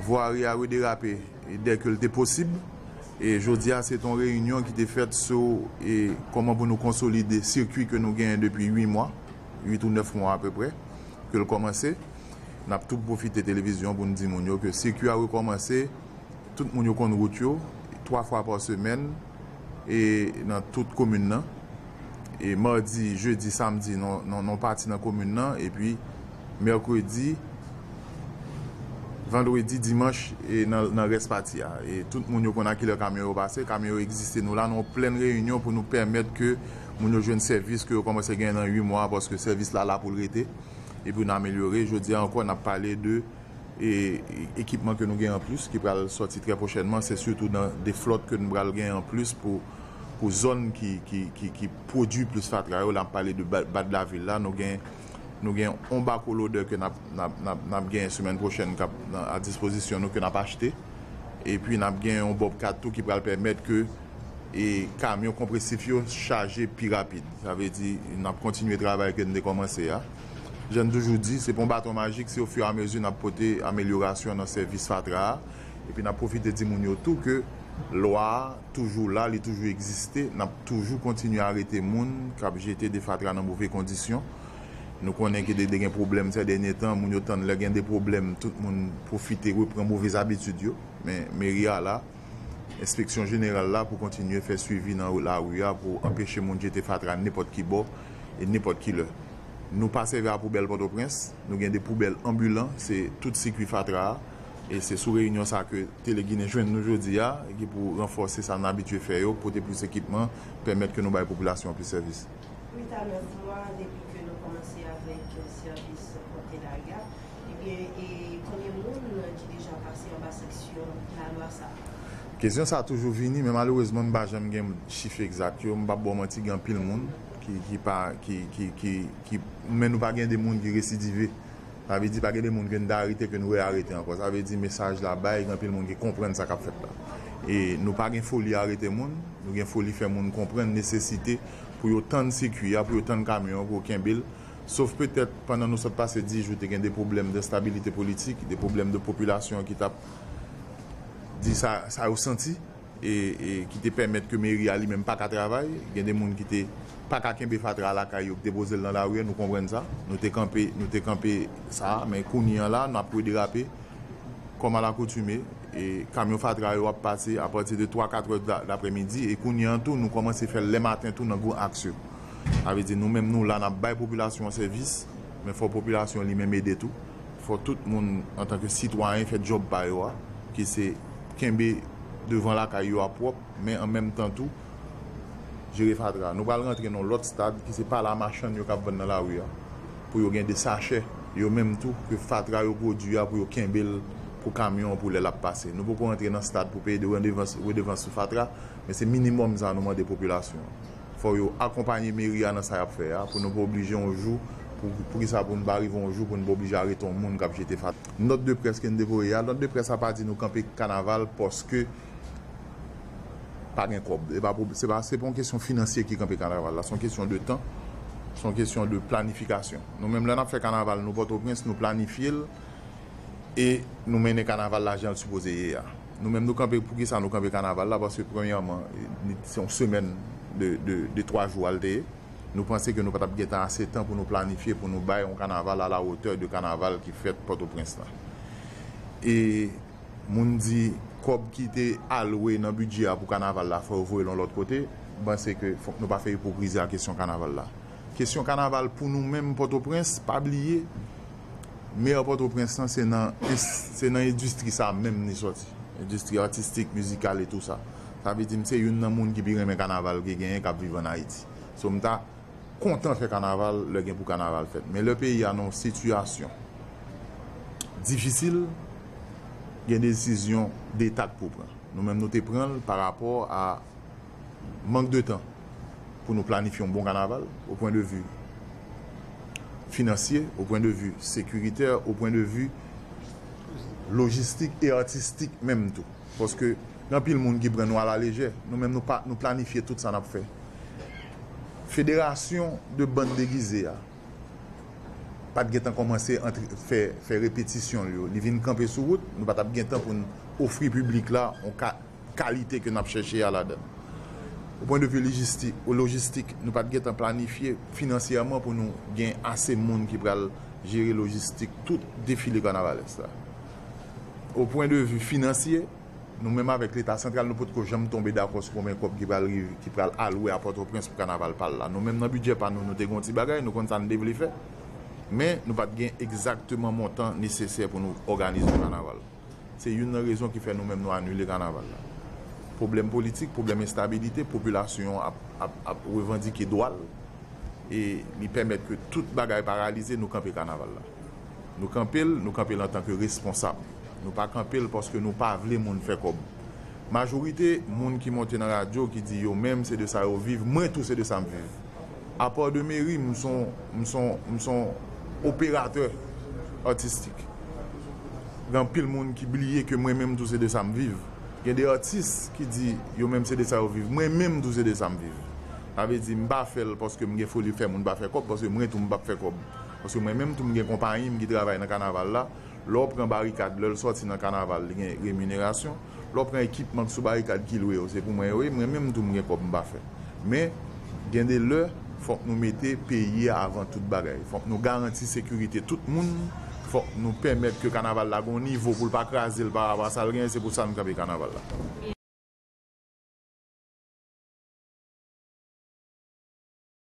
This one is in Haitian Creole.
Vwari a rederape dè ke l te posib e jodi a se te yon reyinyon ki te fèt sou kòman pou nou konsolide sikwi ke nou genyen depi 8 mwa, 8 ou 9 mwa apeprè ke l kòmanse. N ap tou pwofite televizyon pou n di moun yo ke sikwi a rekòmanse, tout moun yo konn wout yo, 3 fwa pa semèn e nan tout komin nan e madi, jedi, samdi nan yon pati nan komin nan epi. Mèkredi, Vandredi, Dimanch e nan rès pati a. Tout moun yo konn a kilè kamyon yo pase. Kamyon yo egziste. Nou la nan yon plèn reyinyon pou nou pèmèt ke moun yo jwenn sèvis ke yo kòmanse genyen nan 8 mwa a paske sèvis la la pou l rete e pou nou amelyore. Jodi a ankò n ap pale de ekipman ke nou gen an plis ki pral sòti trè pwochènman. Se sitou nan 2 flòt ke nou pral gen an plis pou zòn ki pwodui plis fatra yo. La m pale de Badlavil la. Nou gen yon bako lodè ke n ap genyen semèn pwochèn k ap a dispozisyon nou ke n ap achte. Epi n ap gen yon bobcat tou ki pral pèmèt ke kamyon konpresif yo chaje pi rapid. Sa vle di n ap kontinye travay ke n te kòmanse a. Jan n toujou di, se pa yon baton majik, se ofiramezi n ap pote amelyorasyon nan sèvis fatra a. Epi n ap pwofite di moun yo tou ke lwa a. toujou la, li toujou egziste, n ap toujou kontinye arete moun k ap jete de fatra nan move kondisyon. Nou konnen ke de gen pwoblèm sè dènye tan, moun yo tann lè gen de pwoblèm tout moun pwofite repran move zabitid yo. Men meri a la, enspeksyon jeneral la pou kontinye fè swivi nan lari a pou anpeche moun jete fatra nenpòt ki bò e nenpòt ki lè. Nou pa sèvi a poubèl Pòtoprens, nou gen de poubèl anbilan, se tout sikui fatra a. E se sou reyinyon sa ke Teleginen jwenn nou jodi a, ki pou ranfòse sa nou abitye fè yo, pote plis ekipman, pèmèt ke nou bay popilasyon an plis sèvis. Rita, 9 mwa depi ke nou kòmanse avèk sèvis Pòte Lari a, ebyen e konbyen moun ki deja pase anba sanksyon lalwa sa a? Kesyon sa a toujou vini, men malerezman m pa janm gen chif egzat yo, m p ap ba w manti gen anpil moun ki pa, ki, ki, ki, men nou pa gen de moun ki residive. Sa vle di pa gen de moun ke n te arete ke n re-arete ankò. Sa vle di mesaj la bay gen anpil moun ki konprann sa k ap fèt la. E nou pa gen foli arete moun, nou gen foli fè moun konprann nesesite pou yo tann sikui a, pou yo tann kamyon an, pou yo kenbe l. Sof petèt pandan nou sot pase 10 jou te gen de pwoblèm denstabilite politik, de pwoblèm de popilasyon ki t ap di sa yo santi. ki te pèmèt ke meri a li menm pa ka travay, gen de moun ki te pa ka kenbe fatra a lakay yo, ki te poze l nan lari a, nou konprann sa, nou te kanpe, nou te kanpe sa, men kounye an la, nap rederape, kòm a lakoutime, e kamyon fatra yo ap pase a pati de 3, 4 è daprè midi, e kounye an tou nou kòmanse fè l lè maten tou nan gwo aks yo. Sa vle di nou menm nou la nap bay popilasyon an sèvis, men fò popilasyon an li menm ede tou. Fò tout moun antanke sitwayen fè djòb pa yo a, ki se kenbe devan lakay yo a pwòp, men an menm tan tou jere fatra. Nou pral rantre nan yon lòt stad ki se pa la machann yo k ap vann nan lari a pou yo gen de sachè yo menm tou ke fatra yo pwodui a pou yo kenbe l pou kamyon pou lè l ap pase. Nou poko rantre nan stad pou peye de redevans sou fatra, men se minimòm sa nou mande popilasyon an. fò yo akonpanye meri a nan sa yap fè a pou nou pa oblije yon jou pou poukisa pou nou pa rive yon jou pou nou pa oblije arete yon moun kap jete fatra. Nòt de près ke n te voye a, nòt de près la pa di nou kanpe kanaval paske pa gen kòb. E pa pwob, se pa se pa yon kesyon finansye ki kanpe kanaval la, se yon kesyon de tan, se yon kesyon de planifikasyon. Nou menm lè nap fè kanaval nou Pòtoprens nou planifye l e nou mennen kanaval la jan l sipoze ye a. Nou menm nou kanpe poukisa nou kanpe kanaval la paske premyèman se yon semèn de twa jou a l te ye nou panse ke nou pa t ap gen tan ase tan pou nou planifye pou nou bay yon kanaval alawotè de kanaval ki fèt pòtoprens la e moun di kòb ki te alwe nan bidjè a pou kanaval la fò yo voye l yon lòt kote m panse ke fòk nou pa fè ipokrizi ak kesyon kanaval la kesyon kanaval pou nou menm pòtoprens pa bliye Meyè Pòtoprens lan se nan se nan endistri sa menm li sòti. Endistri atistik, mizikal e tou sa. Sa vle di m se youn nan moun ki pi renmen kanaval ki genyen k ap viv ann Ayiti. So m ta kontan fè kanaval lè gen pou kanaval fèt. Men lè peyi a nan yon sitiyasyon difisil, gen desizyon deta k pou pran. Nou menm nou te pran l parapò a. mank de tan pou nou planifye yon bon kanaval o pwen de vi finansye, o pwen de vi sekiritè, o pwen de vi lojistik e atistik menm tou. Paske gen anpil moun ki pran nou alalejè. Nou menm nou planifye tout sa n ap fè. Federasyon de bann degize a pa t gen tan kòmanse fè repetisyon l yo. Li vin kanpe sou wout, nou pa t ap gen tan pou n ofri piblik la yon ka. kalite ke n ap chèche a ladan. O pwen de vi lojistik, o lojistik, nou pa t gen tan planifye finansyèman pou nou gen ase moun ki pral jere lojistik tout defile kanavalès la. O pwen de vi finansye, nou menm avèk Leta santral nou potko janm tonbe dakò sou konben kòb ki pral rive, ki pral alwe a Pòtoprens pou kanaval pa l la. Nou menm nan bidjè pa nou, nou te gen yon ti bagay, nou konn sa n te vle fè, men nou pa t gen egzakteman montan nesesè pou nou òganize yon kanaval. Se youn nan rezon ki fè nou menm nou anile kanaval la. Pwoblèm politik, pwoblèm enstabilite, popilasyon an ap revandike dwa l e li pèmèt ke tout bagay paralize, nou kanpe kanaval la. Nou kanpe l, nou kanpe l antanke responsab. Nou pa kanpe l paske nou pa vle moun fè kòb. Majorite moun ki monte nan radyo ki di yo menm se de sa yo viv mwen tou se de sa m viv. Apa de Mary m s on m s on m s on operatè atistik. Gen anpil moun ki bliye ke mwen menm tou se de sa m viv. Gen de atis ki di yo menm se de sa yo viv mwen menm tou se de sa m viv. Sa vle di m pa fè l paske m gen foli fè moun pa fè kòb paske mwen tou m p ap fè kòb. Paske mwen menm tou m gen konpayi m ki travay nan kanaval la. Lè w pran barikad, lè l sòti nan kanaval li gen reminerasyon, lè w pran ekipman k sou barikad ki lwe yo se pou mwen yo ye, mwen menm tou m gen kòb m pa fè. Men, gen de lè, fòk nou mete peyi a avan tout bagay. Fòk nou garanti sekirite tout moun, fòk nou pèmèt ke kanaval la gen yon nivo pou l pa kraze l parapò a sa l genyen, se pou sa n kanpe kanaval la.